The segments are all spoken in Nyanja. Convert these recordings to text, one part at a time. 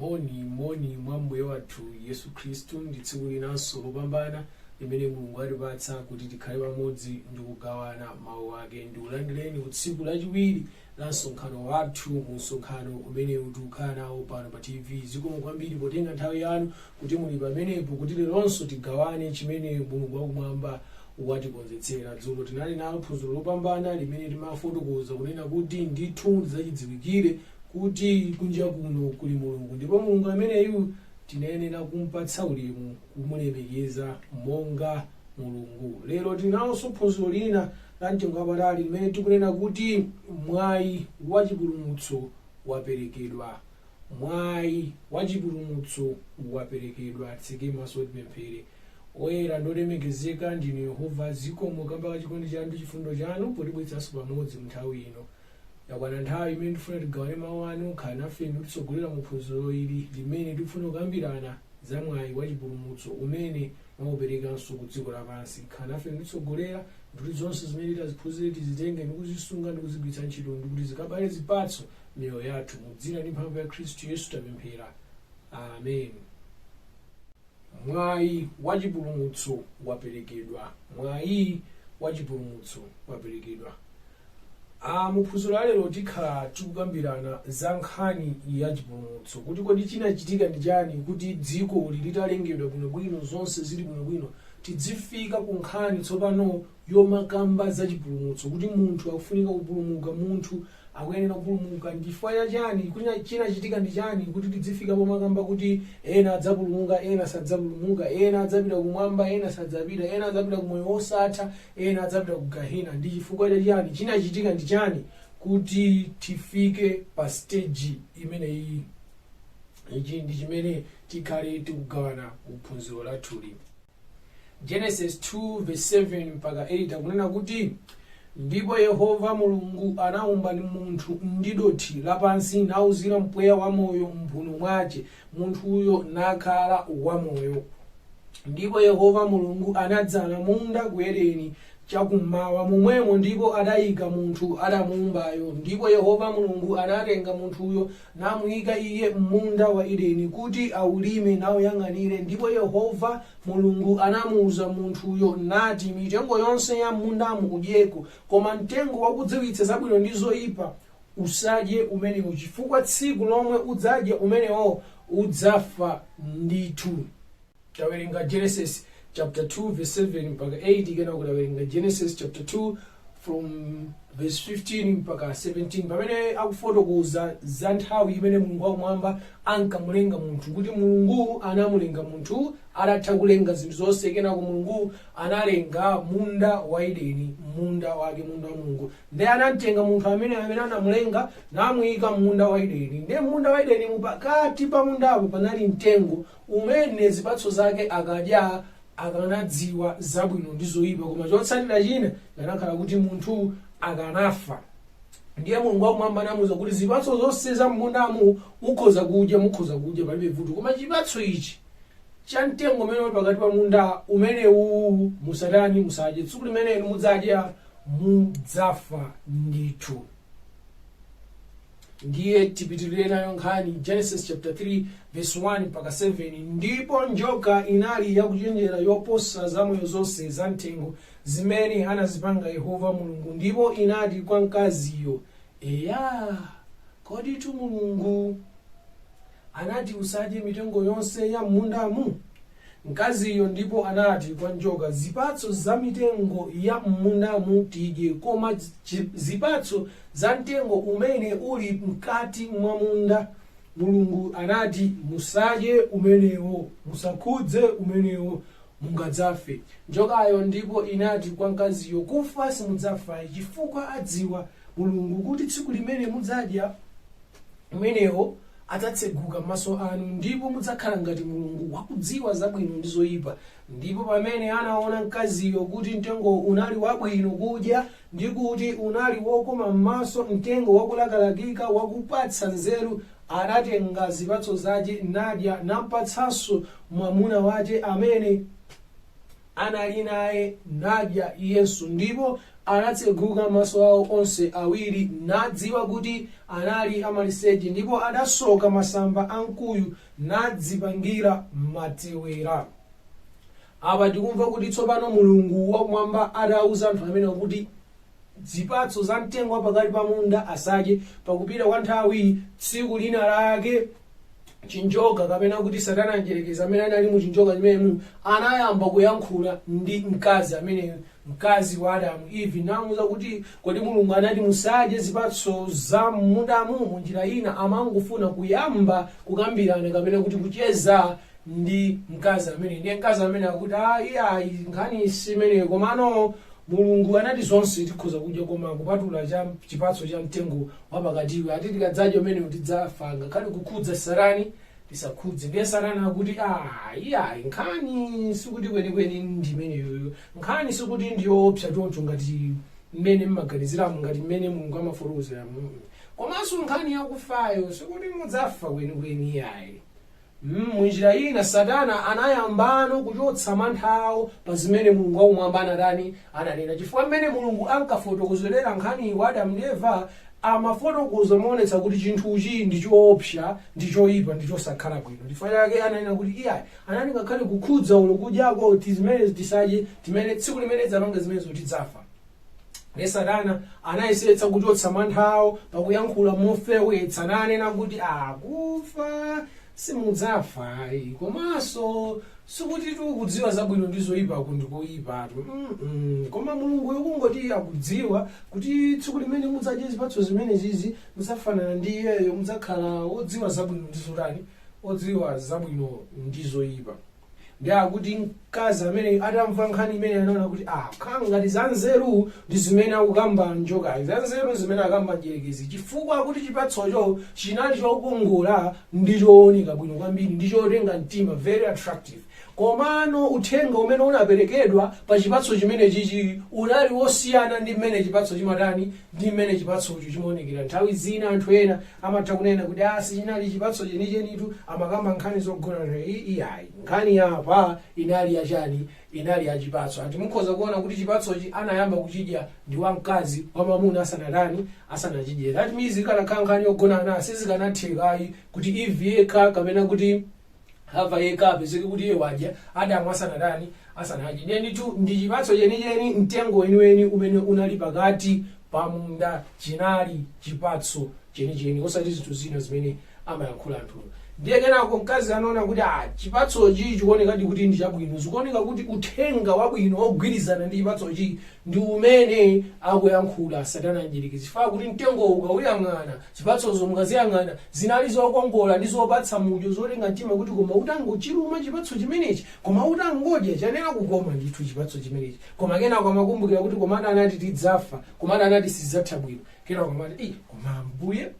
moni moni mwa mbuye wathu yesu khristu ndi tsiku linanso lopambana limene mulungu atipatsa kuti tikhale pamodzi ndi kugawana mawu ake ndikulandireni ku tsiku lachiwiri la msonkhano wathu mu msonkhano umenewu tikukhala nawo pano pa tv zikomo kwambiri potenga nthawi yanu kuti muli pamenepo kuti leronso tigawane chimene mulungu wakumwamba watikonzetsera dzulo tinali nalo phunziro lopambana limene timafotokoza kunena kuti ndithu ndi zachidziwikire kuti kunja kuno kuli mulungu ndipo mulungu ameneyu tinayenera kumpatsa ulemu kumulemekeza monga Mulungu. Lero tili nalonso phunziro lina la mtengo wapatali limene tikunena kuti mwayi wa chipulumutso waperekedwa. Mwayi wa chipulumutso waperekedwa. Titseke maso tipemphere. Oyera ndi olemekezeka ndinu Yehova, zikomo kamba ka chikondi chanu ndi chifundo chanu potibweretsanso pamodzi mu nthawi ino. Yakwana nthawi imene tifuna tigawane mawu anu, khala nafe ndi kutitsogolera mu phunziro ili limene tifuna kukambirana za mwayi wa chipulumutso umene Mwauperekanso ku dziko lapansi. Khala nafe ndi kutitsogolera, ndi kuti zonse zimene titaziphunzire tizitenge ndi kuzisunga ndi kuzigwiritsa ntchito, ndi kuti zikabale zipatso m'miyoyo yathu. Mu dzina ndi mphamvu ya Khristu Yesu tapemphera. Amen. Mwayi wa chipulumutso waperekedwa. Mwayi wa chipulumutso waperekedwa. Mu phunziro la lero tikhala tikukambirana za nkhani ya chipulumutso kuti kodi chinachitika ndi chani kuti dziko li litalengedwa bwinobwino zonse zili bwinobwino tidzifika ku nkhani tsopano yomakamba za chipulumutso kuti munthu akufunika kupulumuka munthu akuyenera kupulumuka ndi chifukwa cha chani kodi chinachitika ndi chani kuti tidzifika pomakamba kuti ena adzapulumuka ena sadzapulumuka ena adzapita kumwamba ena sadzapita ena adzapita ku moyo wosatha Ena adzapita ku Gehena. Ndi chifukwa cha chiyani? Chinachitika ndi chani kuti tifike pa stage imeneyi? Ichi ndi chimene tikhale tikugawana mu phunziro lathuli. Genesis 2 verse 7 mpaka 8 akunena kuti ndipo yehova mulungu anaumba munthu ndi dothi lapansi nauzira mpweya wamoyo m'mphuno mwache munthuyo nakhala wamoyo. Ndipo Yehova Mulungu anadzala munda ku Edeni chakummawa momwemo ndipo adayika munthu adamuumbayo. Ndipo Yehova Mulungu anatenga munthuyo namuyika iye m'munda wa Edeni kuti awulime nauyang'anire. Ndipo Yehova Mulungu anamuwuza munthuyo nati, Mitengo yonse ya m'mundamu udyeko, koma mtengo wakudziwitsa zabwino ndi zoyipa Usadye umenewo, chifukwa tsiku lomwe udzadya umenewo udzafa ndithu. Tawerenga Genesis chapter 2 verse 7 mpaka 8, kenako tawerenga Genesis chapter 2 from verse 15 mpaka 17, pamene akufotokoza za nthawi imene Mulungu wakumwamba ankamulenga munthu, kuti Mulungu anamulenga munthu atatha kulenga zinthu zonse, kenako Mulungu analenga munda wa Edeni, munda wake, munda wa Mulungu. Ndiye anamtenga munthu ameneyo amene anamulenga, namuyika m'munda wa Edeni. Ndiye m'munda wa Edenimu pakati pa mundapo panali mtengo, umene zipatso zake akadya akanadziwa zabwino ndi zoyipa, koma chotsatira china chikanakhala kuti munthu akanafa. Ndiye Mulungu wakumwamba anamuwuza kuti zipatso zonse za m'mundamu ukhoza kudya, mukhoza kudya palibe vuto, koma chipatso ichi cha mtengo umene uli pakati pa munda umenewu musatani, musadye. Tsiku limene inu mudzadya mudzafa ndithu ndiye tipitirire nayo nkhani genesis chapter 3 verse 1 mpaka 7 ndipo njoka inali yakuchenjera yoposa zamoyo zonse za mthengo zimene anazipanga yehova mulungu ndipo inati kwa mkaziyo eya koditu mulungu anati usadye mitengo yonse ya m'mundamu mkaziyo ndipo anati kwa njoka, Zipatso za mitengo ya m'mundamu tidye, koma zipatso za mtengo umene uli mkati mwa munda, Mulungu anati, Musadye umenewo, musakhudze umenewo, mungadzafe. Njokayo ndipo inati kwa mkaziyo, Kufa simudzafayi, chifukwa adziwa Mulungu kuti tsiku limene mudzadya umenewo, adzatseguka maso anu, ndipo mudzakhala ngati Mulungu, wakudziwa zabwino ndi zoyipa. Ndipo pamene anaona mkaziyo kuti mtengo unali wabwino kudya, ndi kuti unali wokoma m'maso, mtengo wakulakalakika, wakupatsa nzeru, anatenga zipatso zache, nadya, nampatsanso mwamuna wache, amene. anali naye, nadya iyenso. Ndipo anatseguka maso awo onse awiri, nadziwa kuti anali amaliseche, ndipo adasoka masamba a mkuyu, nadzipangira matewera. Apa tikumva kuti tsopano Mulungu wakumwamba atauza anthu amenewa kuti zipatso za mtengo wapakati pa munda asadye, pakupita kwa nthawi tsiku lina lake chinjoka kapena kuti satana mdyerekezi amene anali mu chinjoka chimenemu anayamba kuyankhula ndi mkazi ameneyo mkazi wa adamu Eve namuuza kuti kodi mulungu anati musadye zipatso za m'mundamu mu njira ina amangofuna kuyamba kukambirana kapena kuti kucheza ndi mkazi amene ndiye mkazi amene akuti ayi ayi nkhani si imeneyo komano mulungu anati zonse tikhoza kudya koma kupatula cha chipatso cha mtengo wapakatiwe ati tikadzadya umenewu tidzafa ngakhale kukhudza satani tisakhudze ndiye satani akuti "Ah, iyayi nkhani sikuti kwenikweni ndi imeneyoyo nkhani sikuti ndiyoopsa choncho ngati mmene mmaganiziramo ngati mmene mulungu amafotokozeramu komanso nkhani yakufayo sikuti mudzafa kwenikweni iyayi Munjira ina Satana anayambano kuchotsa mantha awo pa zimene Mulungu wakumwamba anatani, ananena. Chifukwa mmene Mulungu ankafotokozerera nkhaniyi kwa Adamu ndi Eva, amafotokoza moonetsa kuti chinthuchi ndi choopsa, ndi choipa, ndi chosakhala bwino. Chifukwa chake ananena kuti, Iyayi, anati ngakhale kukhudza olo kudyako zimenezi tisadye, timene, tsiku limene tidzapanga zimenezo tidzafa. Ndiye Satana anayesetsa kuchotsa mantha awo pakuyankhula mofewetsa nanena kuti a kufa simudzafa ayi komanso sikuti kudziwa zabwino ndi zoyipaku ndi koyipatu Mm-mm. koma mulunguyo kungoti akudziwa kuti tsiku limene mudzadye zipatso zimenezizi mudzafanana ndi iyeyo mudzakhala wodziwa zabwino ndi zotani wodziwa zabwino ndi zoyipa ndiye akuti mkazi amene atamva nkhani imene anaona kuti ah khala ngati zanzeru ndi zimene akukamba njokayi zanzeru zimene akamba mdyerekezi chifukwa akuti chipatsocho chinali chokongola ndi chooneka bwino kwambiri ndi chotenga mtima very attractive komano uthenga umene unaperekedwa pa chipatso chimene chichi unali wosiyana ndi mmene chipatso chimatani ndi mmene chipatsocho chimaonekera nthawi zina anthu ena Amatha kunena kuti aah sichinali chipatso chenichenitu, amakamba nkhani zogonana ii iyayi nkhani ya apa inali ya chani, inali ya chipatso and mukhoza kuona kuti chipatsochi anayamba kuchidya ndi wa mkazi wa mwamuna asanatani, asanachidye that means ikanakhala nkhani yogonana sizikanatheka ayi kuti Eve yekha kapena kuti. hava yekha apezeke kuti iye wadya adamu asanatani asanadye ndiye ndithu ndi chipatso chenicheni mtengo weniweni umene unali pakati pa munda chinali chipatso chenicheni osati zinthu zina zimene amayankhula anthuwo ndiye kenako mkazi anaona kuti a chipatsochi chikuonekadi kuti ndi chabwino zikuoneka kuti uthenga wabwino wogwirizana ndi chipatsochi ndi umene akuyankhula satana mdyerekezi chifukwa kuti mtengowo ukawuyang'ana Zipatsozo mukaziyang'ana, zinali zokongola ndi zopatsa mudyo, zotenga mtima kuti koma utangochiluma chipatso chimenechi, koma utangodya, chiyenera kukoma ndithu chipatso chimenechi. Koma kenako amakumbukira kuti komatu anati tidzafa, komatu anati sizidzatha bwino. Kenako amati, Ii, koma Ambuye.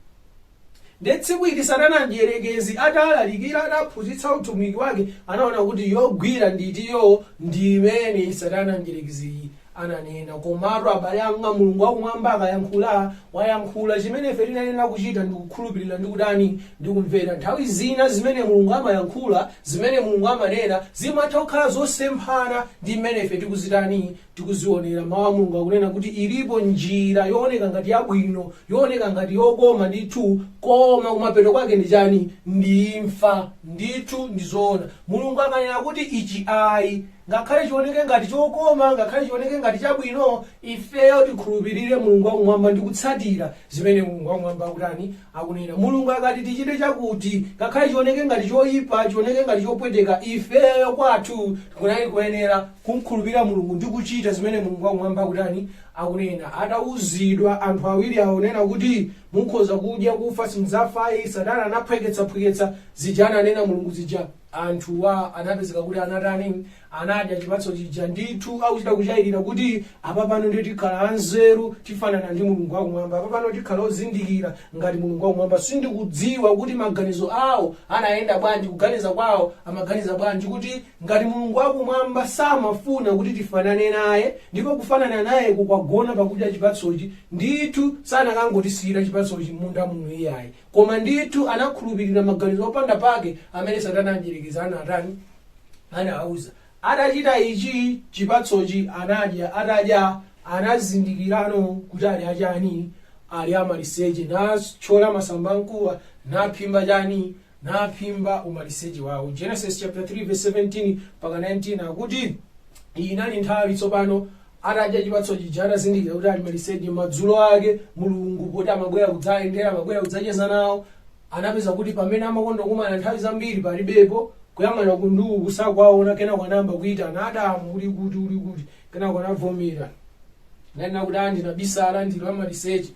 Ndiye tsiku ili Satana Mdyerekezi atalalikira, ataphunzitsa utumiki wake, anaona kuti yogwira ndi itiyoo, ndi imene Satana Mdyerekeziyi ananena. Komatu, abale anga, Mulungu wa Kumwamba akayankhula, wayankhula. Chimene ife tinayenera kuchita ndi kukhulupirira ndi kutani? ndi kumvera. Nthawi zina zimene Mulungu amayankhula, zimene Mulungu amanena, zimatha kukhala zosemphana ndi mmene ife tikuziotani? tikuzionera. Mau a Mulungu akunena kuti ilipo njira yooneka ngati yabwino, yooneka ngati yokoma ndithu, koma kumapeto kwake ndi chani? Ndi imfa. Ndithu ndi zoona. Mulungu akanena kuti ichi ayi. Ngakhale chioneke ngati chokoma, ngakhale chioneke ngati chabwino, ifeyo tikhulupirire Mulungu wa Kumwamba ndi kutsatira zimene Mulungu wa Kumwamba akutani, akunena. Mulungu akati tichite chakuti, ngakhale chioneke ngati choipa, chioneke ngati chopweteka, ifeyo kwathu tikunali kuyenera kumkhulupirira Mulungu ndi kuchita zimene Mulungu wa Kumwamba akutani, akunena. Atauzidwa anthu awiri awa kunena kuti, mukhoza kudya, kufa simudzafa ayi, Satana anaphweketsa phweketsa zija ananena Mulungu zija. Anthuwa anapezeka kuti anatani? Anadya chipatso chija. Ndithu akuchita kuchayirira kuti, Apapano ndiye tikhala anzeru, tifanana ndi Mulungu Wakumwamba. Apapano tikhala ozindikira ngati Mulungu Wakumwamba. Sindikudziwa kuti maganizo awo anayenda bwanji, kuganiza kwawo amaganiza bwanji kuti ngati Mulungu Wakumwamba samafuna kuti tifanane naye, ndipo kufanana nayeko kwagona pakudya chipatsochi, ndithu sanakangotisiyira chipatsochi m'munda muno iyayi. Koma ndithu anakhulupirira maganizo opanda pake amene Satana Mdyerekezi anatani? Anawauza. Atachita ichi, chipatsochi anadya, atadya, anazindikirano kuti ali achani? Ali amaliseche, nachola masamba a mkuwa, naphimba chani? Naphimba umaliseche wawo. Genesis chaputala 3 vesi 17 mpaka 19 akuti, Iyi inali nthawi tsopano atadya chipatso chija atazindikira kuti ali maliseche madzulo ake mulungu poti amabwera kudzayendera amabwera kudzacheza nawo anapeza kuti pamene amakonda kumana nthawi zambiri palibepo kuyang'ana uku ndi uku osawaona kenako anayamba kuyitana adamu uli kuti uli kuti kenako anavomera nanena kuti ndinabisala ndili amaliseche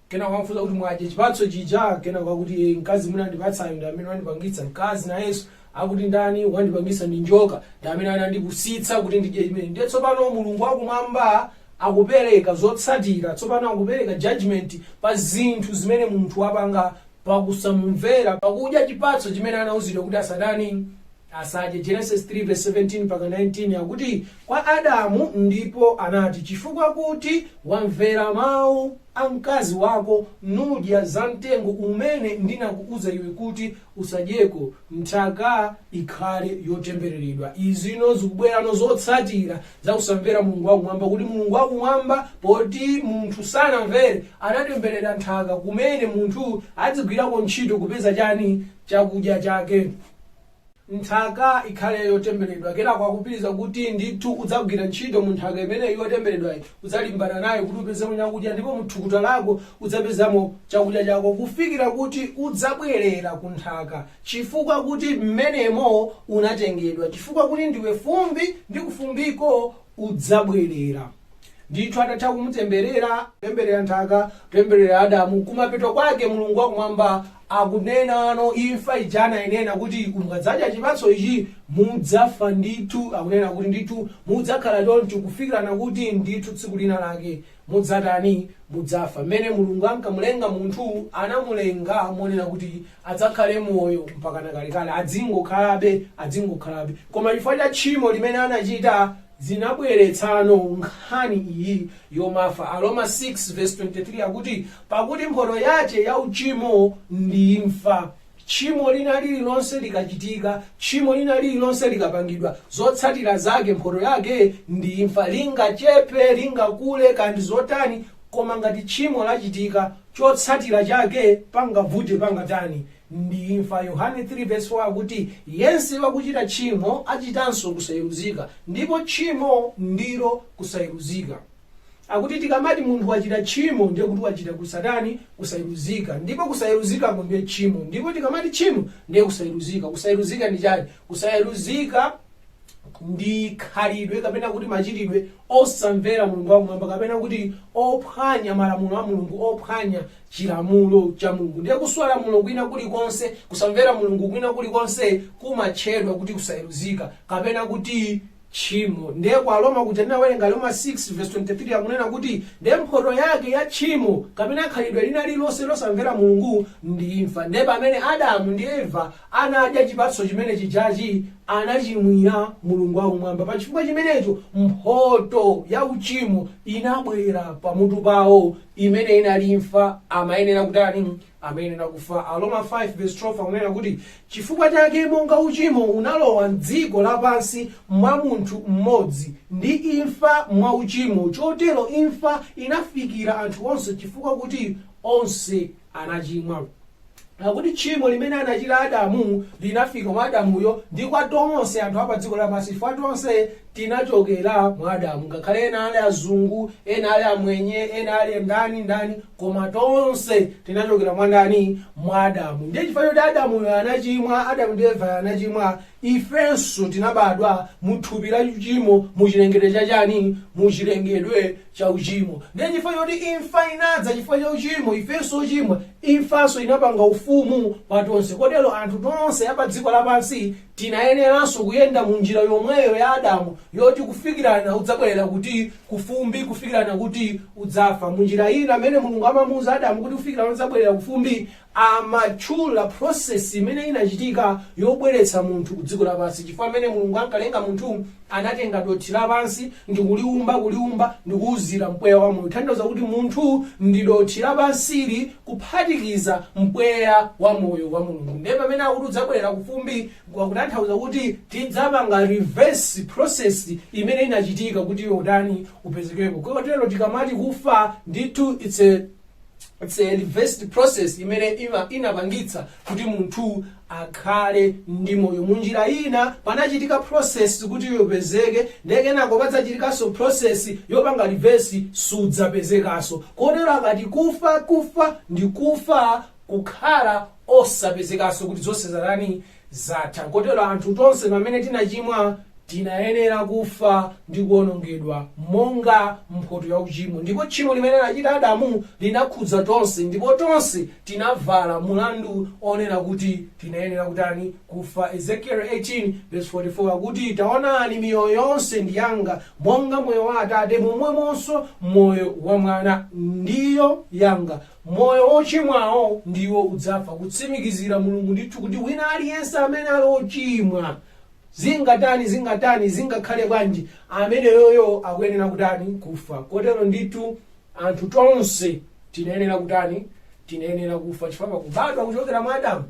kenako anamfunsa kuti mwadye chipatso chija kenako akuti "Eh, mkazi munandipatsayo ndi amene wandipangitsa mkazi nayenso Akuti ndani wandipangitsa ndi njoka ndi amene anandipusitsa kuti ndidye chimene. Ndiye tsopano Mulungu wakumwamba akupereka zotsatira tsopano akupereka judgment pa zinthu zimene munthu wapanga pakusamumvera pakudya chipatso chimene anauzidwa kuti asatani asadye. Genesis 3 verse 17 mpaka 19 akuti kwa Adamu ndipo anati chifukwa kuti wamvera mau a mkazi wako nudya za mtengo umene ndinakuuza iwe kuti usadyeko, nthaka ikhale yotembereredwa. Izino zikubwerano zotsatira za kusamvera Mulungu wakumwamba, kuti Mulungu wakumwamba, poti munthu sanamvere, anatemberera nthaka kumene munthu adzigwirako ntchito kupeza chani? Chakudya chake. Nthaka ikhale yotembereredwa. Kenako akupitiriza kuti ndithu udzagwira ntchito mu nthaka imeneyi yotembereredwayi Udzalimbana nayo kuti upezemo chakudya, ndipo mu thukuta lako udzapezamo chakudya chako, kufikira kuti udzabwerera ku nthaka, chifukwa kuti m'menemo unatengedwa, chifukwa kuti ndiwe fumbi, ndi kufumbiko udzabwerera. Ndithu atatha kumutemberera, kutemberera nthaka, kutemberera Adamu, kumapeto kwake Mulungu wa Kumwamba akunenano imfa ija anainena kuti mukadzadya chipatso ichi mudzafa ndithu akunena kuti ndithu mudzakhala choncho kufikirano kuti ndithu tsiku lina lake mudzatani mudzafa mmene mulungu ankamulenga munthu anamulenga monena kuti adzakhale moyo mpakana kalekale adzingokhalabe adzingokhalabe koma chifukwa cha tchimo limene anachita zinabweretsano nkhani iyi yomafa. Aroma 6:23 akuti, Pakuti mphoto yace ya ucimo ndi imfa. Tchimo lina lirilonse likachitika, tchimo lina lirilonse likapangidwa, zotsatira zake, mphoto yake ndi imfa. Lingachepe, lingakule, kaya ndi zotani, koma ngati tchimo lachitika, chotsatira chake, pangavute pangatani, ndi imfa. Yohane 3 vesi 4 akuti, Yense wakuchita tchimo achitanso kusayeruzika, ndipo tchimo ndilo kusayeruzika. Akuti tikamati munthu wachita tchimo ndiye kuti wachita kusatani? Kusayeruzika. Ndipo kusayeruzikako ndiye tchimo. Ndipo tikamati tchimo ndiye kusayeruzika. Kusayeruzika ndi chani? Kusayeruzika ndi khalidwe kapena kuti machitidwe osamvera mulungu wakumwamba kapena kuti ophwanya malamulo a mulungu ophwanya chilamulo cha mulungu ndiye kuswa lamulo kwina kulikonse kusamvera mulungu kwina kulikonse kumatchedwa kuti kusayeruzika kapena kuti tchimo ndiye kwa aroma kuja tinawerenga aroma 6 verse 23 akunena kuti ndiye mphoto yake ya tchimo kapena khalidwe lina lililonse losamvera mulungu ndi imfa ndiye pamene adamu ndi eva anadya chipatso chimene chijachi anachimwira Mulungu wa Kumwamba. Pa chifukwa chimenecho, mphoto ya uchimo inabwera pamutu pawo, imene inali imfa. Amayenera kutani? Amayenera kufa. Aroma 5 vs. 12 akunena kuti, Chifukwa chake monga uchimo unalowa m'dziko lapansi mwa munthu mmodzi, ndi imfa mwa uchimo, chotero imfa inafikira anthu onse chifukwa kuti onse anachimwa. Akuti tchimo limene anachita Adamu linafika mwa Adamuyo ndi kwa tonse anthu a padziko lapansi chifukwa tonse tinachokera mwa Adamu. Ngakhale ena ali azungu, ena ali amwenye, ena ali ndani ndani, koma tonse tinachokera mwa ndani? Mwa Adamu. Ndiye chifukwa choti Adamuyo anachimwa, Adamu ndi Eva anachimwa, ifenso tinabadwa mu thupi la uchimo, mu chilengedwe cha chani? Mu chilengedwe cha uchimo. Ndiye chifukwa choti imfa inadza chifukwa cha uchimo, ifenso ochimwa, imfanso inapanga ufumu pa tonse. Kotero anthu tonse a pa dziko lapansi tinayeneranso kuyenda mu njira yomweyo ya Adamu yoti kufikirana udzabwerera kuti kufumbi, kufikirana kuti udzafa. Mu njira ina, amene Mulungu amamuuza Adamu kuti kufikirana udzabwerera kufumbi, amatchula process imene inachitika yobweretsa munthu kudziko lapansi chifukwa mmene mulungu ankalenga munthu anatenga dothi lapansi ndikuliumba kuliumba ndikuuzira mpweya wa moyo kutanthauza kuti munthu ndi dothi lapansili kuphatikiza mpweya wa moyo wa mulungu ndiye pamene akuti udzabwerera kufumbi kutanthauza kuti tidzapanga reverse process imene inachitika kuti iwe utani upezekeko kotero tikamati kufa ndithu it's a It's a reversed process imene ima- inapangitsa kuti munthu akhale ndi moyo munjira ina panachitika process kuti iwe upezeke ndiye kenako padzachitikanso process yopanga reverse sudzapezekaso kotero akati kufa kufa ndi kufa kukhala osapezekaso kuti zonse zatani zatha. Kotero anthu tonse pamene tinachimwa tinayenera kufa ndi kuonongedwa monga mphoto ya uchimo. Ndipo tchimo limene anachita Adamu linakhudza tonse ndipo tonse tinavala mulandu onena kuti tinayenera kutani? Kufa. Ezekiele 18 vesi 44 akuti, Taonani, miyoyo yonse ndi yanga, monga moyo wa atate, momwemonso moyo wa mwana, ndiyo yanga. Moyo wochimwawo ndiwo udzafa, kutsimikizira Mulungu ndithu kuti wina aliyense amene ali ochimwa, zingatani zingatani, zingakhale bwanji, ameneyoyo akuyenera kutani? Kufa. Kotero ndithu anthu tonse tinayenera kutani? Tinayenera kufa chifukwa pakubadwa kuchokera mwa Adamu,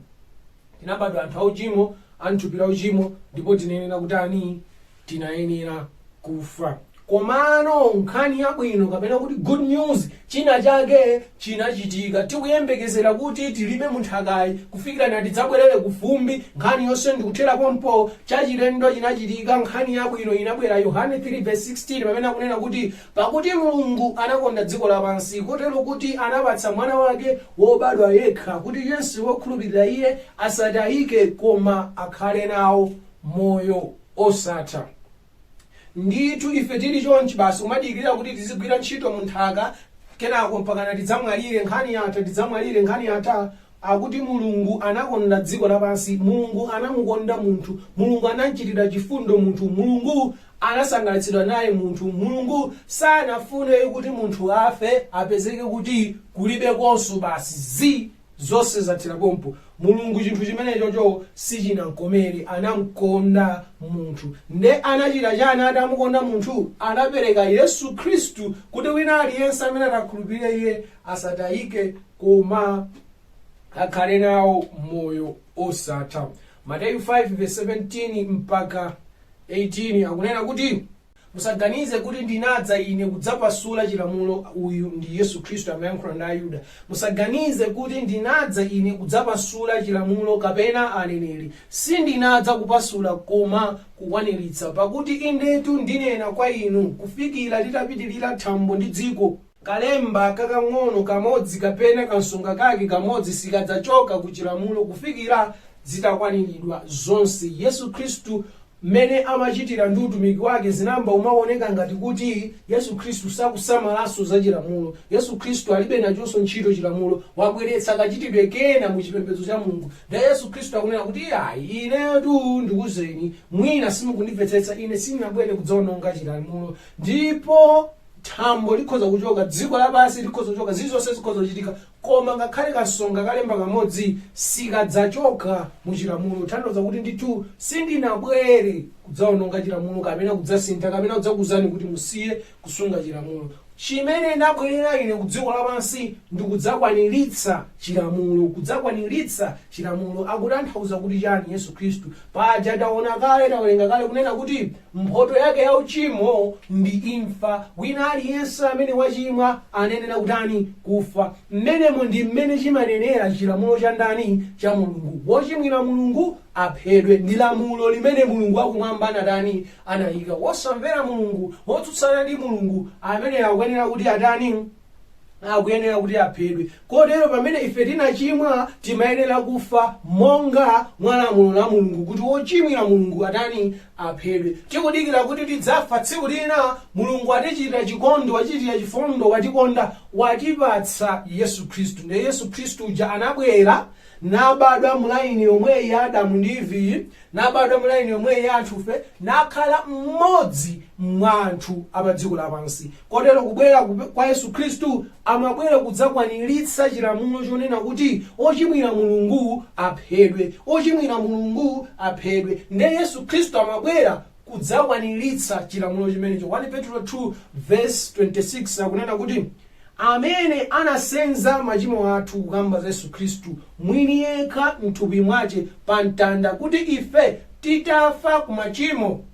tinabadwa anthu auchimo, a mthupi la uchimo, ndipo tinayenera kutani? tinayenera kufa. Komano nkhani yabwino kapena kuti good news, china chake chinachitika. Tikuyembekezera kuti tilime munthakayi kufikira na tidzabwerere kufumbi. Nkhani yonse ndikuthera pompo. Chachilendo chinachitika, nkhani yabwino inabwera. Yohane 3 verse 16 pamene akunena kuti pakuti Mulungu anakonda dziko lapansi kotero kuti anapatsa mwana wake wobadwa yekha kuti yense wokhulupirira iye asatayike koma akhale nawo moyo. osatha. Ndithu ife tili chonchi basi kumadikirira kuti tizigwira ntchito mu nthaka kenako mpakana tidzamwalire, nkhani yatha, tidzamwalire, nkhani yatha. Akuti Mulungu anakonda dziko lapansi, Mulungu anamukonda munthu, Mulungu anamchitira chifundo munthu, Mulungu anasangalatsidwa naye munthu, Mulungu sanafune kuti munthu afe, apezeke kuti kulibekonso basi zi! Zonse zathera pompo. Mulungu chinthu chimenechocho sichinamkomere, anamkonda munthu. Nde anachita chani atamukonda munthu? Anapereka Yesu Khristu kuti wina aliyense amene atakhulupirire Iye asatayike koma akhale nawo moyo osatha. Mateyu 5 vs 17 mpaka 18 akunena kuti. Musaganize kuti ndinadza ine kudzapasula chilamulo, uyu ndi Yesu Khristu amayankhula ndi Ayuda. Musaganize kuti ndinadza ine kudzapasula chilamulo kapena aneneri, sindinadza kupasula koma kukwaniritsa. Pakuti indetu ndinena kwa inu, kufikira litapitirira thambo ndi dziko, kalemba kakang'ono kamodzi kapena kansonga kake kamodzi sikadzachoka ku chilamulo kufikira zitakwaniridwa zonse. Yesu Khristu Mmene amachitira ndi utumiki wake zinayamba kumawoneka ngati kuti Yesu Kristu sakusamalanso za Chilamulo. Yesu Kristu alibe nachonso ntchito Chilamulo. Wabweretsa kachitidwe kena mu chipembedzo cha Mulungu. Ndiye Yesu Kristu akunena kuti, Iyayi, inetu ndikuuzeni, mwina simukundimvetsetsa, ine sindinabwere kudzawononga Chilamulo. Ndipo thambo likhoza kuchoka, dziko lapansi likhoza kuchoka, zilizonse zikhoza kuchitika, Koma ngakhale kansonga kalemba kamodzi sikadzachoka mu chilamulo, kutanthauza kuti ndithu sindinabwere kudzaononga chilamulo kapena kudzasintha kapena kudzakuuzani kuti musiye kusunga chilamulo. Chimene ndabwerera ine ku dziko lapansi ndi kudzakwaniritsa chilamulo. Kudzakwaniritsa chilamulo akutanthauza kuti chani Yesu Khristu? Paja taona kale, tawerenga kale kunena kuti Mphoto yake ya uchimo ndi imfa. Wina aliyense amene wachimwa anayenera kutani? Kufa. Mmenemo ndi mmene chimanenera chilamulo cha ndani? Cha Mulungu. Wochimwira Mulungu aphedwe. Ndi lamulo limene Mulungu wakumwamba anatani? Anayika. Wosamvera Mulungu, wotsutsana ndi Mulungu, ameneyo akuyenera kuti atani? akuyenera kuti aphedwe kotero pamene ife tinachimwa timayenera kufa monga mwa lamulo la mulungu kuti wochimwira mulungu atani aphedwe tikudikira kuti tidzafa tsiku lina mulungu watichitira chikondi wachitira chifundo watikonda watipatsa yesu khristu ndiye yesu khristu uja anabwera nabadwa mulaini yomweyi ya adamu ndi iviyi nabadwa mu line yomweyo ya anthufe nakhala mmodzi mwa anthu apadziko lapansi kotero kubwera kup- kwa yesu khristu amabwera kudzakwaniritsa chilamulo chonena kuti ochimwira mulungu aphedwe ochimwira mulungu aphedwe nde yesu khristu amabwera kudzakwaniritsa chilamulo chimenecho 1 petro 2 verse 26 akunena kuti amene anasenza machimo athu, kukamba za Yesu Kristu mwini yekha m'thupi mwache pa mtanda, kuti ife, titafa ku machimo,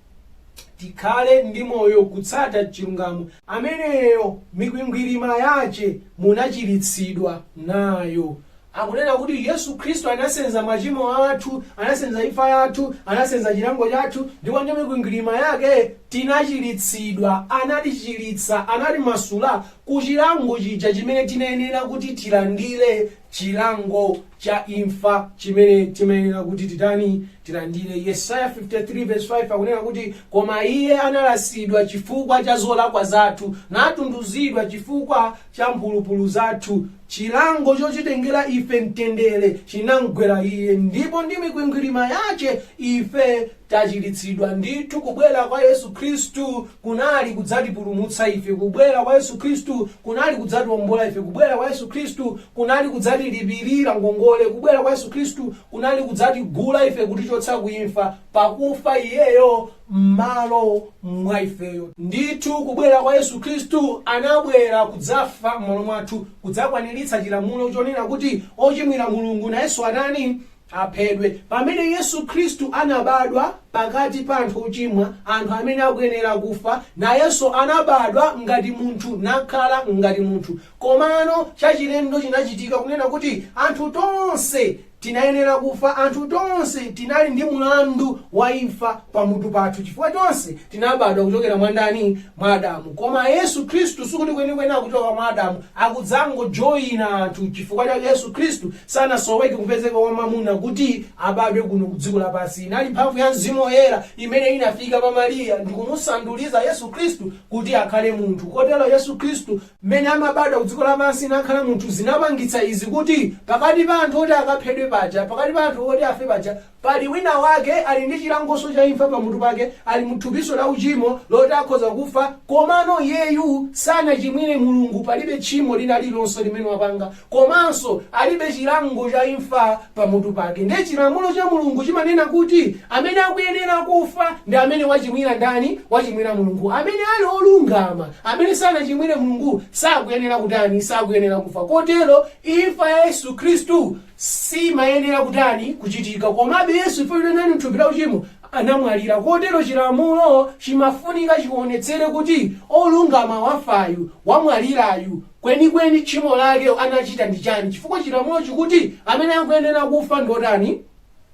tikhale ndi moyo kutsata chilungamo, ameneyo mikwingwirima yache munachiritsidwa nayo. Akunena kuti Yesu Khristu anasenza machimo athu, anasenza imfa yathu, anasenza chilango chathu, ndipo ndi mikwingwirima yake tinachiritsidwa. Anatichiritsa, anatimasula ku chilango chija chimene tinayenera kuti tilandire, chilango cha imfa chimene timayenera kuti titani? Tilandire. Yesaya 53 vesi 5 akunena kuti, koma iye analasidwa chifukwa cha zolakwa zathu, natunduzidwa chifukwa cha mphulupulu zathu, chilango chotitengera ife mtendere chinamgwera iye, ndipo ndi mikwingwirima yache ife tachiritsidwa. Ndithu kubwera kwa Yesu Khristu kunali kudzatipulumutsa ife, kubwera kwa Yesu Khristu kunali kudzatiombola ife, kubwera kwa Yesu Khristu kunali kudzatilipirira ngongole, kubwera kwa Yesu Khristu kunali kudzatigula ife kutichotsa ku imfa, pakufa iyeyo mmalo mwa ifeyo. Ndithu kubwera kwa Yesu Khristu anabwera kudzafa mmalo mwathu, kudzakwaniritsa chilamulo chonena kuti ochimwira Mulungu nayenso atani? aphedwe. Pamene Yesu Khristu anabadwa pakati pa anthu ochimwa, anthu amene akuyenera kufa, nayenso anabadwa ngati munthu nakhala ngati munthu. Komano chachilendo chinachitika kunena kuti anthu tonse Tinayenera kufa, anthu tonse tinali ndi mulandu wa imfa pa mutu pathu chifukwa tonse tinabadwa kuchokera mwa ndani? Mwa Adamu. Koma Yesu Khristu sikuti kwenikweni akuchoka mwa Adamu, akudzangojoina anthu chifukwa cha Yesu Khristu sanasoweke kupezeka kwa mamuna kuti abadwe kuno ku dziko lapansi. Inali mphamvu ya Mzimu Woyera imene inafika pa Maria ndikumusanduliza Yesu Khristu kuti akhale munthu. Kotero Yesu Khristu mmene amabadwa ku dziko lapansi nakhala munthu zinapangitsa izi kuti pakati pa anthu oti akaphedwe paja, pakati pa anthu oti afe paja, pali wina wake ali ndi chilangonso cha imfa pamutu pake, ali mu thupinso la uchimo loti akhoza kufa, komano iyeyu sanachimwire Mulungu, palibe tchimo lina lililonse limene wapanga, komanso alibe chilango cha imfa pamutu pake. Ndiye chilamulo cha Mulungu chimanena kuti amene akuyenera kufa ndi amene wachimwira ndani? Wachimwira Mulungu. Amene ali olungama, amene sanachimwire Mulungu sakuyenera kutani? Sakuyenera kufa. Kotero imfa ya Yesu Khristu simayenera kutani? Kuchitika. Komabe Yesu ife kunali anali mthupi la uchimo anamwalira. Kotero chilamulo chimafunika chionetsere kuti olungama wafayu, wamwalirayu, Kwenikweni tchimo lake anachita ndi chani chifukwa chilamulo chikuti amene akuyenera kufa ndi otani?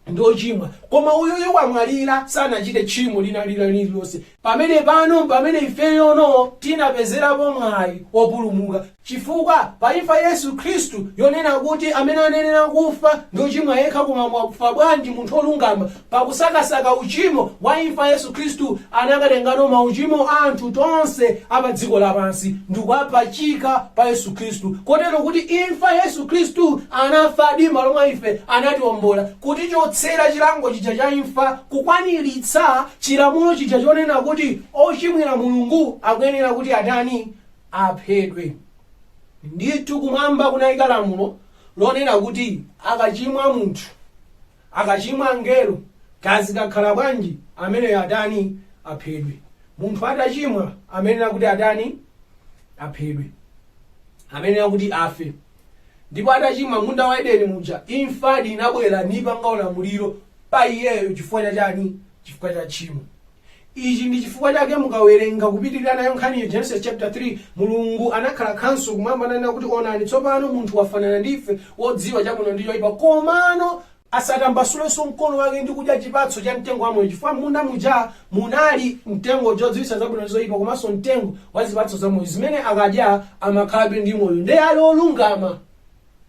Ndi ochimwa. Koma uyuyu wamwalira sanachite tchimo lina lililonse. Pamenepano mpamene ifeyono tinapezerapo mwayi wopulumuka chifukwa pa imfa Yesu Khristu yonena kuti amene anayenera kufa ndi ochimwa yekha koma wafa bwanji munthu olungama Pakusakasaka uchimo wa imfa Yesu Khristu anakatengano mauchimo a anthu tonse a pa dziko lapansi ndikuwapachika pa Yesu Khristu kotero kuti imfa Yesu Khristu anafadi m'malo mwa ife anatiombola kutichotsera chilango chija cha imfa kukwaniritsa chilamulo chija chonena kuti ochimwira Mulungu akuyenera kuti atani aphedwe ndithu kumwamba kunayika lamulo lonena kuti akachimwa munthu Akachimwa angelo kaya zikakhala bwanji ameneyo atani aphedwe. Munthu atachimwa amayenera kuti atani aphedwe. Amayenera kuti afe. Ndipo atachimwa m'munda wa Edeni muja imfadi inabwera nipanga ulamuliro pa iyeyo chifukwa cha chani chifukwa cha tchimo. Ichi ndi chifukwa chake mukawerenga kupitirira nayo nkhaniyo, Genesis chapter 3, Mulungu anakhala khanso kumwamba nanena kuti, Onani, tsopano munthu wafanana ndi ife, wodziwa chabwino ndi choipa, komano asatambasulenso mkono wake ndi kudya chipatso cha mtengo wa moyo, chifukwa m'munda muja munali mtengo wodziwitsa zabwino ndi zoipa komanso mtengo wa zipatso za moyo, zimene akadya amakhalabe ndi moyo, ndiye ali olungama.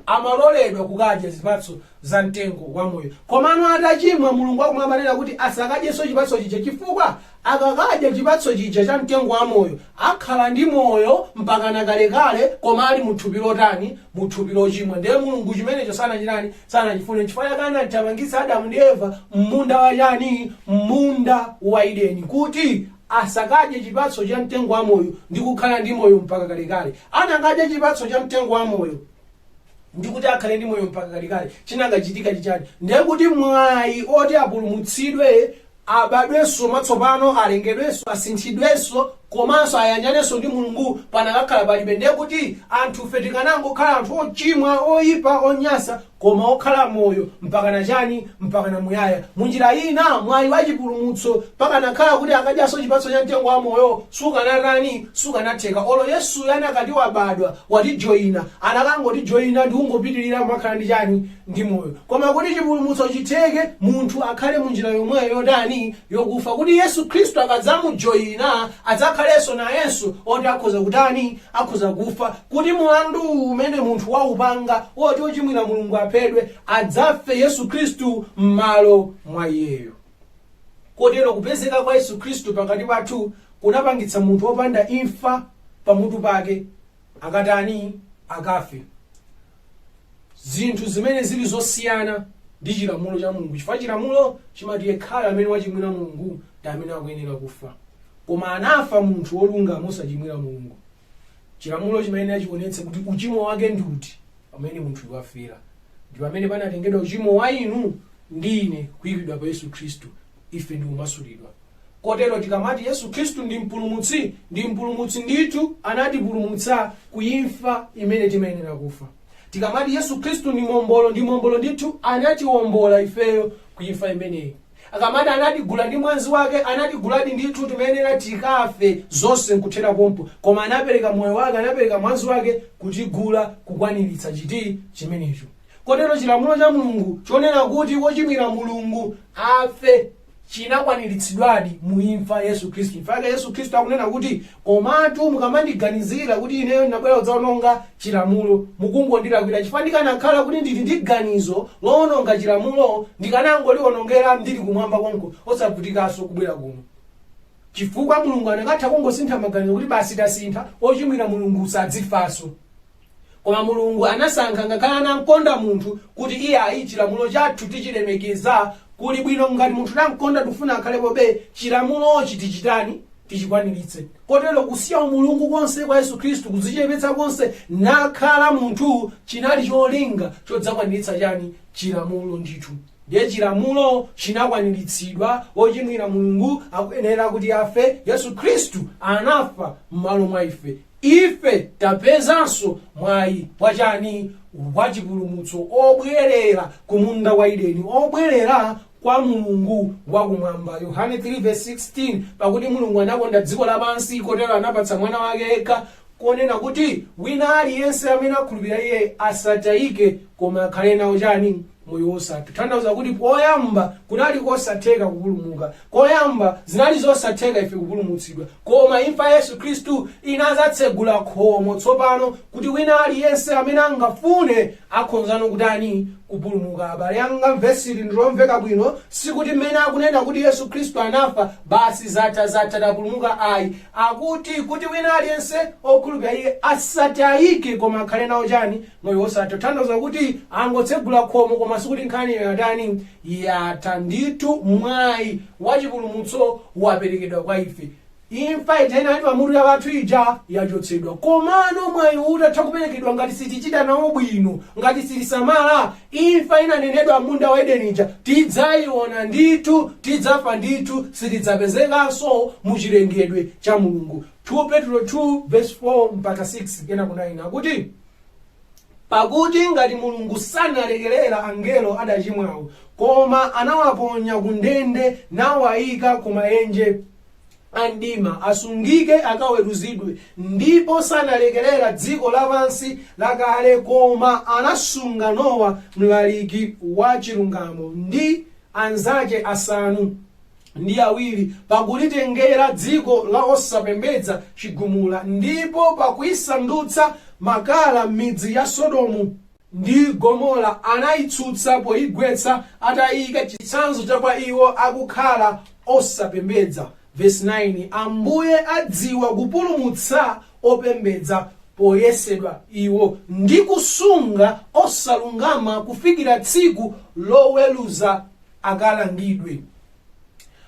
amaloledwa kukadya zipatso za mtengo wa moyo. Komano atachimwa, Mulungu wakumwamba ananena kuti asakadyenso chipatso chija chifukwa akakadya chipatso chija cha mtengo wa moyo, akhala ndi moyo mpakana kalekale koma ali mu thupi lotani? Mu thupi lochimwa. Ndiye Mulungu chimenecho sanachitani? Sanachifune. N'chifukwa chake anathamangitsa Adamu ndi Eva m'munda wa chani? M'munda wa Edeni kuti asakadye chipatso cha mtengo wa moyo ndi kukhala ndi moyo mpaka kalekale. Anakadya chipatso cha mtengo wa moyo ndi kuti akhale ndi moyo mpaka kalekale. Chinakachitika n'chichani? Ndiye kuti mwayi oti apulumutsidwe abadwenso mwatsopano alengedwenso asinthidwenso komanso ayanjanenso ndi mulungu panakakhala palibe ndiye kuti anthufe tikanangokhala anthu ochimwa oyipa onyasa koma okhala moyo mpakana chani? mpakana muyaya. Munjira ina, mwayi wa chipulumutso pakanakhala kuti akadyanso chipatso cha mtengo wa moyo sukanatani? sukanatheka. Olo Yesuyo anakati wabadwa, watijoina, anakangotijoina ndikungopitilira kumakhala ndi chani? ndi moyo. Koma kuti chipulumutso chitheke, munthu akhale munjira yomweyo yotani? yokufa. Kuti Yesu Khristu akadzamujoina adzakhalenso nayenso oti akhoza kutani? akhoza kufa. kuti mulandu umene munthu waupanga woti ochimwira mulungu aphedwe adzafe yesu khristu m'malo mwa iyeyo kotero kupezeka kwa yesu khristu pakati pathu kunapangitsa munthu wopanda imfa pamutu pake akatani akafe zinthu zimene zili zosiyana ndi chilamulo cha mulungu chifukwa chilamulo chimati yekhayo amene wachimwira mulungu ndi amene akuyenera kufa koma anafa munthu wolungama osachimwira mulungu Chilamulo chimayenera chionetse kuti uchimo wake ndi uti pamene munthuyu wafera. Ndi pamene panatengedwa uchimo wa inu ndi ine kuikidwa pa Yesu Khristu, ife ndi kumasulidwa. Kotero tikamati Yesu Khristu ndi mpulumutsi, ndi mpulumutsi ndithu anatipulumutsa ku imfa imene timayenera kufa. Tikamati Yesu Khristu ndi mombolo, ndi mombolo ndithu anatiwombola ifeyo ku imfa imeneyi. Akamati anatigula ndi mwazi wake anatiguladi ndithu timayenera tikafe zonse nkuthera pompo koma anapereka moyo wake anapereka mwazi wake kutigula kukwaniritsa chiti chimenecho kotero chilamulo cha Mulungu chonena kuti wochimwira Mulungu afe chinakwaniritsidwadi mu imfa ya Yesu Khristu imfa yake Yesu Khristu akunena kuti Komatu mukamandiganizira kuti ineyo ndinabwera kudzaononga Chilamulo, mukungondilakwira chifukwa ndikanakhala kuti ndili ndi ganizo lowononga Chilamulo, ndikanangochiwonongera ndili kumwamba konko osavutikanso kubwera kuno. Chifukwa Mulungu anakatha kungosintha maganizo kuti basi tasintha, ochimwira Mulungu sadzifanso. Koma Mulungu anasankha ngakhale anamkonda munthu kuti iyayi chilamulo chathu tichilemekeza kuli bwino ngati munthu tamkonda tikufuna akhalepobe chilamulochi tichitani tichikwaniritse kotero kusiya umulungu konse kwa Yesu Khristu kudzichepetsa konse nakhala munthu chinali cholinga chodzakwaniritsa chani chilamulo ndithu ndiye chilamulo chinakwaniritsidwa ochimwira Mulungu akuyenera kuti afe Yesu Khristu anafa m'malo mwa ife Ife tapezanso mwayi wa chani? Wa chipulumutso, obwerera ku munda wa Edeni, obwerera kwa Mulungu wa Kumwamba. Yohane 3 16, Pakuti Mulungu anakonda dziko lapansi, kotero anapatsa Mwana wake yekha, konena kuti wina aliyense amene akhulupirira Iye asataike, koma akhale nawo chani? moyo wosatha. Tanthauza kuti poyamba kunali kosatheka kupulumuka. Poyamba zinali zosatheka ife kupulumutsidwa. Koma imfa ya Yesu Khristu inadzatsegula khomo tsopano kuti wina aliyense amene angafune akhonzano kutani? Kupulumuka. Abale anga, vesi ili ndilomveka bwino. Sikuti mmene akunena kuti Yesu Khristu anafa, basi zatha zatha tapulumuka ayi. Akuti kuti wina aliyense okhulupira iye asatayike koma akhale nawo chani? Moyo wosatha tanthauza kuti angotsegula khomo koma sikuti nkhaniyo yatani, yatha. Ndithu mwayi wa chipulumutso waperekedwa kwa ife. Imfa ija inali pa mutu pathu ija yachotsedwa. Komano mwayiwu utatha kuperekedwa ngati sitichita nawo bwino, ngati sitisamala, imfa inanenedwa m'munda wa Edeni ija tidzayiona ndithu, tidzafa ndithu, sitidzapezekanso mu chilengedwe cha Mulungu. 2 Petro 2 vesi 4-6, kenako 9 akuti. pakuti ngati mulungu sanalekerere angelo adachimwawo koma anawaponya ku ndende nawayika ku mayenje a mdima asungike akaweruzidwe ndipo sanalekerere dziko lapansi lakale koma anasunga nowa mlaliki wa chilungamo ndi anzache asanu ndi awiri pakulitengera dziko la osapembedza chigumula, ndipo pakuisandutsa makala midzi ya Sodomu ndi Gomora anaitsutsa poigwetsa, ataiika chitsanzo cha kwa iwo akukhala osapembedza. Vesi 9, Ambuye adziwa kupulumutsa opembedza poyesedwa iwo, ndi kusunga osalungama kufikira tsiku loweruza akalangidwe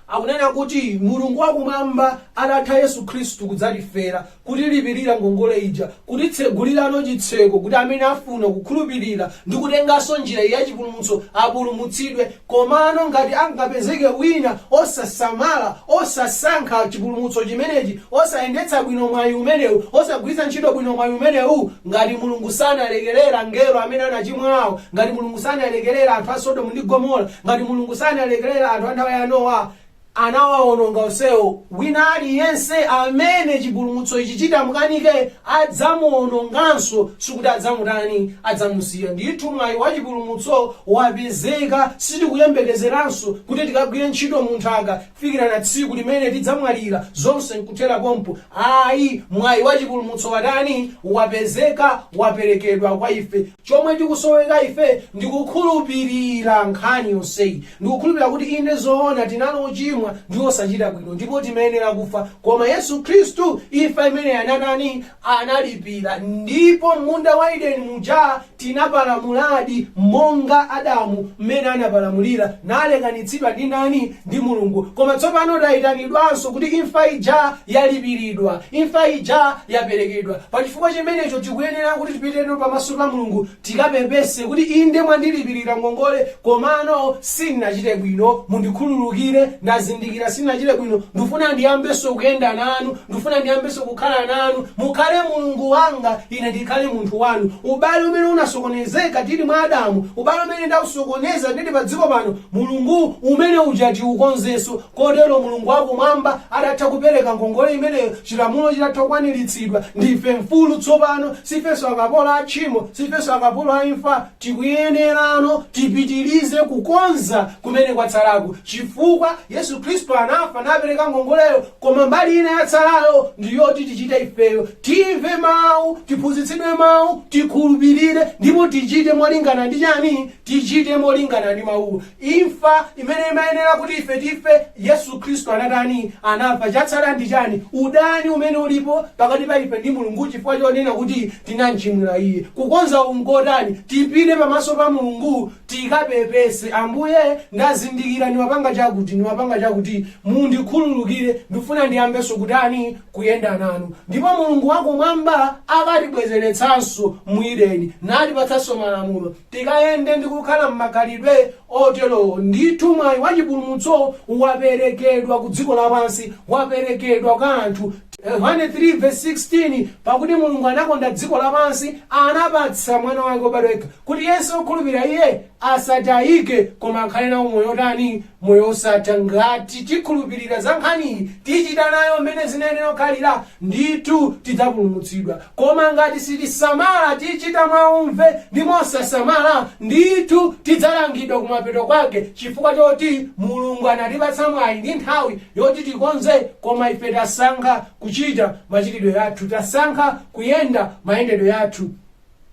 akunena kuti mulungu wakumwamba atatha yesu khristu kudzatifera kutilipirira ngongole ija kutitsegulirano chitseko kuti amene afuna kukhulupirira ndi kutenganso njira ya chipulumutso apulumutsidwe komano ngati angapezeke wina osasamala osasankha chipulumutso chimenechi osayendetsa bwino mwayi umenewu, osagwiritsa ntchito bwino mwayi umenewu, ngati Mulungu sanalekerere angelo amene anachimwawo, ngati Mulungu sanalekerere anthu a Sodomu ndi Gomora, ngati Mulungu sanalekerere anthu a nthawi ya Nowa, anawawononga onsewo, wina aliyense amene chipulumutso ichi chitamukanike, adzamuwononganso, sikuti adzamutani, adzamusiya. Ndithu mwayi wa chipulumutso wapezeka, sitikuyembekezeranso kuti tikagwire ntchito mu nthaka, kufikira na tsiku limene tidzamwalira, zonse nkuthera pompo. Ayi, mwayi wa chipulumutso watani? Wapezeka, waperekedwa kwa ife. Chomwe tikusoweka ife ndi kukhulupirira nkhani yonseyi, ndi kukhulupirira kuti inde zoona tinali ochimwa ndi osachita bwino ndipo timayenera kufa, koma Yesu Khristu imfa imeneyi anatani? analipira. Ndipo m'munda wa Ideni muja tinapalamuladi monga Adamu m'mene anapalamulira, nalekanitsidwa ndi nani? Ndi Mulungu. Koma tsopano tayitanidwanso kuti imfa ija yalipiridwa, imfa ija yaperekedwa. Pa chifukwa chimenecho tikuyenera kuti tipiteno pamaso pa Mulungu tikapepese kuti inde mwandilipirira ngongole komano sindinachite bwino mundikhululukire ndazindikira sindinachite bwino ndifuna ndiyambenso kuyenda nanu ndifuna ndiyambenso kukhala nanu mukhale mulungu wanga ine ndikhale munthu wanu ubale umene unasokonezeka tili mwa adamu ubale umene ndausokoneza ndili pa dziko pano mulungu umene uja tiukonzenso Kotero Mulungu wa Kumwamba atatha kupereka ngongole imeneyo, chilamulo chitatha kukwaniritsidwa, ndife mfulu tsopano. Sifenso akapolo a tchimo, sifenso akapolo a imfa. Tikuyenerano tipitirize kukonza kumene kwatsalaku, chifukwa Yesu Khristu anafa napereka ngongoleyo, koma mbali ina yatsalayo ndi yoti tichite ifeyo. Timve Mau, tiphunzitsidwe Mau, tikhulupirire, ndipo tichite molingana ndi chani? Tichite molingana ndi Mauwo. Imfa imene imayenera kuti ife tife, Yesu Khristu anatani? Anafa. Chatsala ndi chani? Udani umene ulipo pakati pa ife ndi Mulungu chifukwa chonena kuti tinamchimwira Iye. Kukonza uku nkotani? Tipite pamaso pa Mulungu tikapepese, Ambuye, ndazindikira ndimapanga chakuti, ndimapanga chakuti. Mundikhululukire. Ndifuna ndiyambenso kutani? Kuyenda nanu. Ndipo Mulungu wa Kumwamba akatibwezeretsanso mu Edeni, natipatsanso malamulo. tikayende ndi kukhala m'makhalidwe otero, ndithu mwayi wa chipulumutso waperekedwa ku dziko lapansi, waperekedwa kwa anthu. Yohane 3 vesi 16 pakuti mulungu anakonda dziko lapansi, anapatsa mwana wake wobadwa yekha, kuti yense wokhulupirira iye asatayike, koma akhale nawo moyo wotani? moyo osatha ngati tikhulupirira za nkhaniyi tichita nayo mmene zinayenera kukhalira ndithu tidzapulumutsidwa koma ngati sitisamala tichita mwaumve ndi mosasamala ndithu tidzalangidwa kumapeto kwake chifukwa choti mulungu anatipatsa mwayi ndi nthawi yoti tikonze koma ife tasankha kuchita machitidwe yathu tasankha kuyenda mayendedwe yathu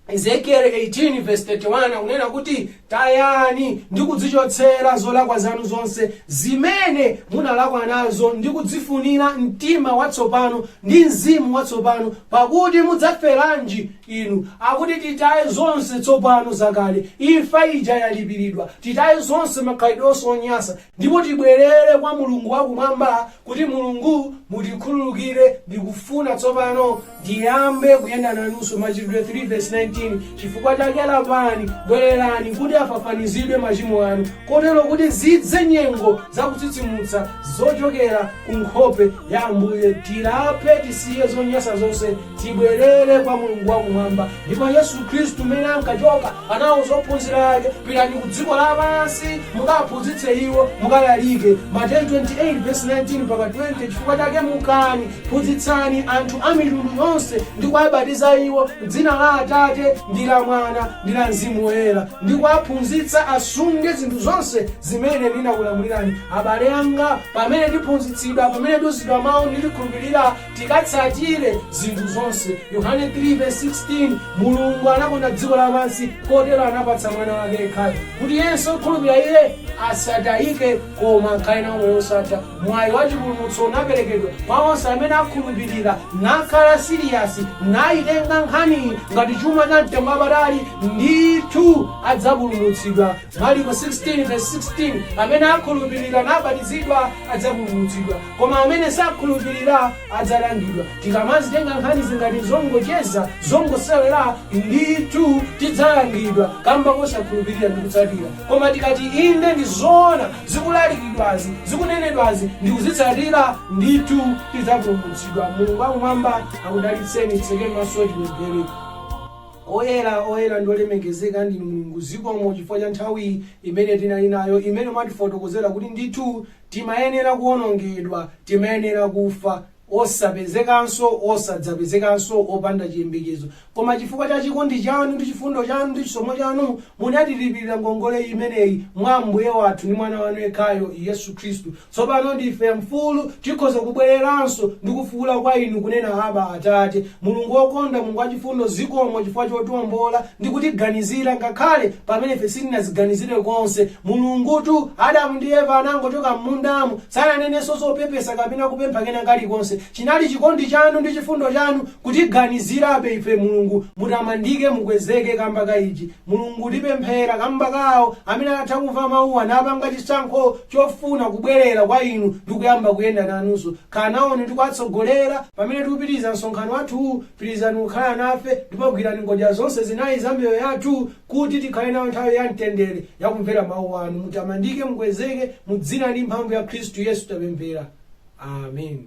ezekieli 18 verse 31 akunena kuti tayani ndi kudzichotsera zolakwa zanu zonse zimene munalakwa nazo ndi kudzifunira mtima watsopano ndi mzimu watsopano pakuti mudzaferanji inu akuti titaye zonse tsopano zakale imfa ija yalipiridwa titaye zonse makhalidwe onse onyasa Ndipo tibwerere kwa Mulungu wa Kumwamba, kuti, Mulungu, mutikhululukire, tikufuna tsopano tiyambe kuyenda nanunso, Machitidwe 3 vesi 19, chifukwa chake lapani, bwererani, kuti afafanizidwe machimo anu, kotero kuti zidze nyengo za kutsitsimutsa zochokera ku nkhope ya Ambuye, tilape, tisiye zonyasa zonse. Tibwerere kwa Mulungu wa Kumwamba. Ndipo Yesu Khristu, m'mene ankachoka, anawauza ophunzira ake, Pitani ku dziko lapansi, mukawaphunzitse iwo, mukalalike. Mateyu 28 vesi 19 mpaka 20 Chifukwa chake mukani, phunzitsani anthu a mitundu yonse, ndi kuwabatiza iwo m'dzina la Atate, ndi la Mwana, ndi la Mzimu Woyera, ndi kuwaphunzitsa asunge zinthu zonse zimene ndinakulamulirani. Abale anga, pamene tiphunzitsidwa, pamene tiuzidwa mau, ndi tikhulupirira, tikatsatire zinthu zonse. Yohane 3 vesi 16, Mulungu anakonda dziko lapansi kotero anapatsa Mwana wake yekhayo, kuti yense okhulupira Iye asatayike, koma akhale nawo moyo wosatha. Mwayi wa chipulumutso unaperekedwa kwa onse amene akhulupirira, nakhala siriyasi, nayitenga nkhaniyi ngati chuma cha mtengo wapatali, ndithu adzapulumutsidwa. Mariko 16 vesi 16, Amene akhulupirira nabatizidwa adzapulumutsidwa, koma amene sakhulupirira adzalangidwa. Tikamazitenga nkhanizi ngati zongocheza, zongosewera, ndithu tidzalangidwa kamba kosakhulupirira ndi kutsatira. Koma tikati inde ndi zoona zikulalikidwazi, zikunenedwazi ndi kuzitsatira, ndithu tidzapulumutsidwa. Mulungu wakumwamba akudalitseni. Tsekeni maso tipemphere. Oyera, oyera ndi olemekezeka ndinu Mulungu zikomo chifukwa cha nthawi imene tinali nayo imene mwatifotokozera kuti ndithu timayenera kuonongedwa, timayenera kufa, osapezekanso, osadzapezekanso, opanda chiyembekezo. Koma chifukwa cha chikondi chanu ndi chifundo chanu ndi chisomo chanu munatilipilira ngongole imeneyi mwa Ambuye wathu ndi mwana wanu yekhayo Yesu Khristu. Tsopano ndife mfulu, tikhoza kubwereranso ndi kufuula kwa Inu, kunena, Abba, Atate. Mulungu wokonda, Mulungu wachifundo, zikomo chifukwa chotiombola ndi kutiganizira, ngakhale pamene ife sitinaziganizire konse. Mulungutu, Adamu ndi Eva anangochoka m'mundamo, sananenenso zopepesa kapena kupempha kena kalikonse. Chinali chikondi Chanu ndi chifundo Chanu kutiganizirabe ife, Mulungu. Mutamandike, mukwezeke kamba ka ichi. Mulungu, tipemphera kamba ka awo amene anatha kumva mawuwa napanga chisankho chofuna kubwelera kwa Inu ndi kuyamba kuyenda nanunso. Khala nawoni ndi kuwatsogolera pamene tikupitiliza msonkhano wathu, pitilizani kukhala nafe ndipo gwirani ngodya zonse zinayi za miyoyo yathu kuti tikhale nayo nthawi ya mtendere ya kumvera mawu anu. Mutamandike, mukwezeke, mu dzina ndi mphamvu ya Khristu Yesu tapemphera. Amen.